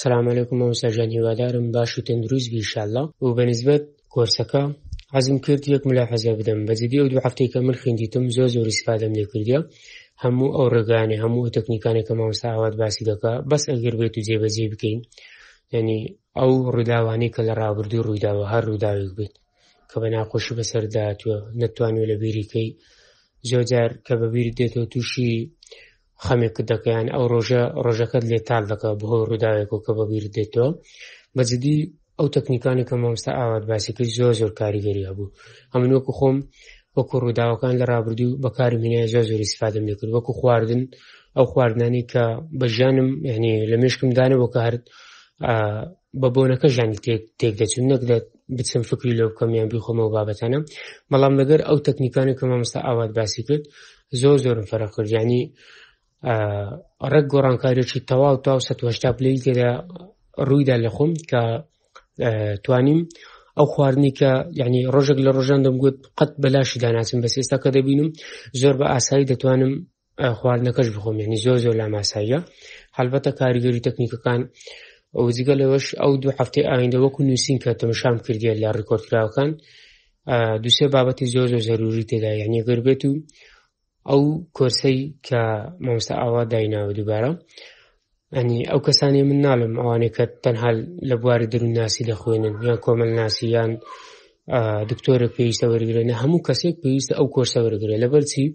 سلام علیکم مامۆستا ژان هیوادارم باش و تەندروست بی انشاءاللە و بەنسبەت کۆرسەکە عزم کرد یەک ملا حەزە بدەم بەجددی ئەو دوو هەفتێکە من خوێندیتم زۆر زۆر استفادەم لێ کردیا هەموو ئەو ڕێگانێ هەموو ئەو تەکنیکانێک کە مامۆستا ئاوات باسی دەکا بەس ئەگەر بێت و جێبەجێ بکەین یعنی ئەو ڕووداوانەی کە لە ڕابردوو ڕوویداوە هەر ڕووداوێک بێت کە بە ناخۆشی بەسەرداتوە نەتوانێت لە بیریکەی زۆجار کە بەبیری دێتەوە تووشی خەمێکت دەکە یان ئەو ڕۆژە ڕۆژەکەت لێ تال دەکە بەهۆی ڕووداوێک و کە بەبیر دێتەوە بەجددی ئەو تەکنیکانی کە مامستا ئاوات باسی کرد زۆر زۆر کاریگەری هەبوو هەمن وەکو خۆم وەکو ڕووداوەکان لە ڕابردوو بەکاری منە زۆر زۆری سفادم لێکرد وەکو خواردن ئەو خواردنانی کە بە ژیانم یعنی لە مشکم دانەوە کە هەر بە بۆنەکە ژانی تێک تێک دەچون نەک بچم فکری لۆ بکەم یان بیخۆمەوە بابەتانە بەڵام لەگەر ئەو تەکنیکانی کە مامۆستا ئاوات باسی کرد زۆر زۆرم فەرق کرد ینی ڕێک گۆڕانکاریێکی تەواو تا سەهشتا پلی تێدا ڕوویدا لە خۆم کە توانیم ئەو خواردنی کە یعنی ڕۆژێک لە ڕۆژان دەمگوت قەت بەلاشی داناسم بەس ئێستا کە دەبینم زۆر بە ئاسایی دەتوانم خواردنەکەش بخۆم یعنی زۆر زۆر لاماساییە هەلبەتە کاریگەری تەکنیکەکان ئەو جگە لەوەش ئەو دوو هەفتەی ئایندە وەکو نووسین کە تەمەشام کردیە لە ڕکۆردکراوەکان دوسێ بابەتی زۆر زۆر زەروری تێدا یعنی گەر بێت و ئەو کۆرسەی کە مامۆستا ئاوا دایناوە دووبارە یعنی ئەو کەسانی من ناڵم ئەوانەی کە تەنها لە بواری دەروونناسی دەخوێنن یان کۆمەلناسی یان دکتۆرە پێویستە وەرگرێنە هەموو کەسێک پێویستە ئەو کۆرسە وەرگێ لە بەرچی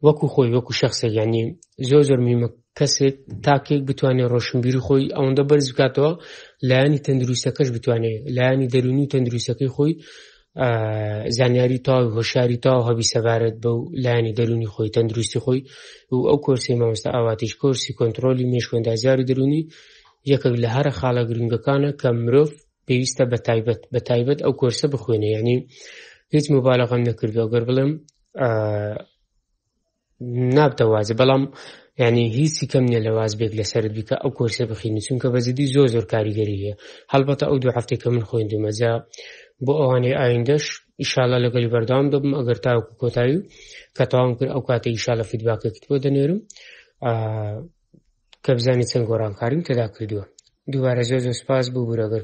وەکو خۆی وەکو شخصێک ینی زۆر زۆر میمە کەسێک تاکێک بتوانێت ڕۆشنبیری خۆی ئەوەندە بەرز بکاتەوە لایانی تەندروستەکەش بتوانێت لایانی دەرونی و تەندروستەکەی خۆی زانیاری تاو هۆشاری تاو هەبی سەبارەت بەو لایانی دەرونی خۆی تەندروستی خۆی و ئەو کۆرسی مامۆستا ئاواتیش کۆرسی کۆنتترۆلی مێشکۆندازیار و دەرونی یەکێک لە هەرە خاڵە گرنگەکانە کە مرۆڤ پێویستە بە تایبەت بە تایبەت ئەو کۆرسە بخوێنێ ینی هیچ مبالغم نەکردو گەر بڵێم نابتە وازێ بەڵام ینی هیچی کەم نیە لە واز بێک لەسرت بیکە ئەو کۆرسە بخینی چونکە بە جدی زۆر زۆر کاریگەری هەیە هەڵبەتە ئەو دو هەفتێک کە من خوێن دومەجا بۆ ئەوانەی ئایندەش ئیشاالله لەگەلی بەردام دەبم ئەگەر تاوکو کۆتایی و کە تاوام کرد ئەو کاتە ئیشاالە فیدباکەکت بۆ دەنێرم کە بزانانی چەند گۆڕانکاریم تێدا کردووە دووارە زۆر زۆر سپاس بوو بورەگەر